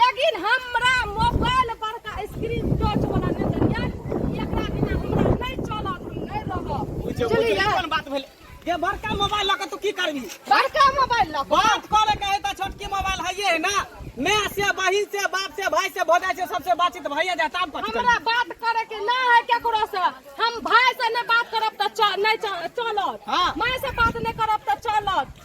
लेकिन हमरा मोबाइल पर का स्क्रीन टच वाला नहीं दरिया एकरा बिना हमरा नहीं चलत हम नहीं रहब बुझे बुझे चलिए। कोन बात भेल ये बड़का मोबाइल लके तू की करबी बड़का मोबाइल लग बात करे के है तो छोटकी मोबाइल है ये ना मैं से बहिन से बाप से भाई से भौजाई से सबसे बातचीत भैया जाता हम कथी हमरा करबी बात करे के ना है केकरो से हम भाई से नहीं बात करब त चल नहीं चल- चलत हाँ। माय से बात नहीं करब त चलत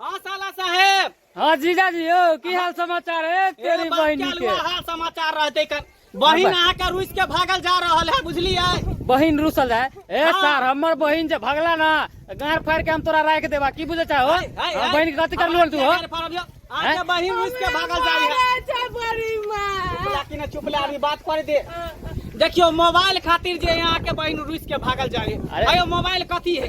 हाँ साला साहेब हाँ जीजा जी हो की हाल समाचार है तेरी बहन के हाल समाचार रहते कर बहिन अहाँ के रूस के भागल जा रहल है बुझलिए बहिन रूसल है ए हाँ। सर हमर बहिन जे भगला ना गार फाड़ के हम तोरा राख देबा की बुझे चाहो हाँ, बहिन के कथि कर लोल तू हो आके बहिन रूस के भागल जा है बड़ी मां कि ना चुप ले अभी बात कर दे देखियो मोबाइल खातिर जे यहां के बहिन रूस के भागल जा है अरे मोबाइल कथि है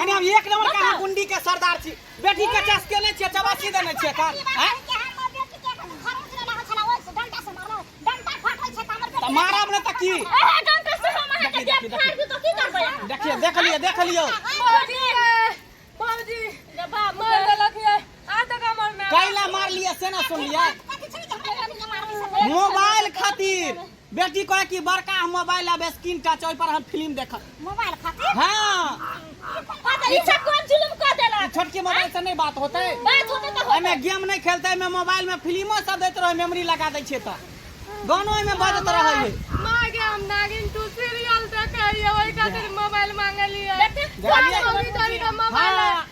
अरे हम एक नंबर का बताउ। गुंडी के सरदार छी बेटी के चस के नै छै चबासी देने छै कान हैं? तऽ मारब ने तऽ की देखिए देख लियो देख लियो कैला मार लिया से ना सुन लिया मोबाइल खातिर बेटी कहे कि बड़का हम मोबाइल आबे स्क्रीन टच ओइ पर हम फिल्म देखब मोबाइल खातिर हां पता ई सब कोन जुलुम क देला छोटकी मोबाइल से नहीं बात होते बात होते त होते एमे गेम नहीं खेलते एमे मोबाइल में फिल्मो सब देत रहे मेमोरी लगा दै छिए त गानो एमे बजत रहे है मां के हम नागिन टू सीरियल देखे हिए ओइ खातिर मोबाइल मांगलिए देखते मोबाइल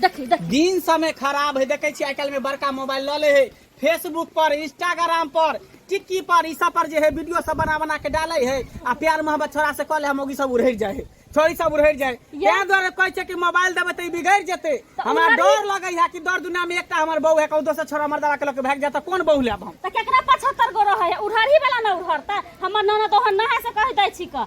देखी देखी दिन समय खराब है देखे छी आइ काल्हि में बड़का मोबाइल लऽ ले है फेसबुक पर इंस्टाग्राम पर टिक्की पर ई सब पर जे है वीडियो सब बना बना के डाले है आ प्यार मोहब्बत छोड़ा से कॉल हम सब उड़हर जाए है छोड़ी सब उड़हर जाए ये- ताहि दुआरे कहै छै कि मोबाइल देबै तऽ ई बिगड़ जेतै तऽ हमरा उड़हर- डर लगै है कि दर दुनिया में एकटा हमर बहू है कहू दोसर छोड़ा मर्दावा के लऽ के भागि जाए तऽ कोन बहू लेब हम तऽ केकरा पचहत्तर गो रहै है उड़हरी वाला ने उड़हर तऽ हमर ननद ओहन नहा से कहि दै छी कऽ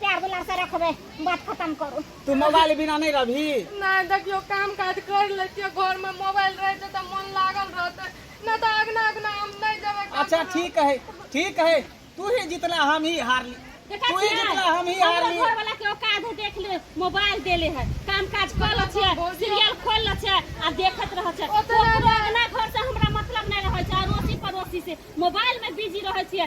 प्यार दुलार से रखबे बात खत्म करू तू मोबाइल बिना नहीं रही नहीं देखियो काम काज कर लेतियो घर में मोबाइल रहे तो त मन लागल रहते न त अगना अगना हम नहीं देबे काम अच्छा करब। ठीक है ठीक है तू ही जीतला हम ही हार ली देखा तू ही छियै? जीतला हम ही हार हमरा ली घर वाला के औकात है देख ले मोबाइल देले है काम काज कर ल छै सीरियल खोल ल छै आ देखत रह छै ओतने ओकरो अपना घर से हमरा मतलब नहीं रहे छै अड़ोसी पड़ोसी से मोबाइल में बिजी रहे छियै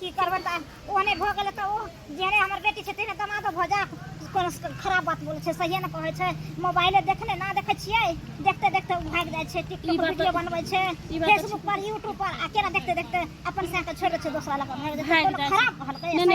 की करबन तऽ ओहने भऽ गेलै तऽ ओ जेहने हमर बेटी छै तेहने दमादो भऽ जा कोनो खराब बात बोलै छै सहिए ने कहै छै मोबाइले देखने ना देखै छियै देखते देखते ओ भागि जाइ छै टिकटॉक वीडियो बनबै छै फेसबुक पर यूट्यूब पर आ केना देखते देखते अपन साथ छोड़ि दै छै दोसरा लग भागि जाइ छै खराब कहलकै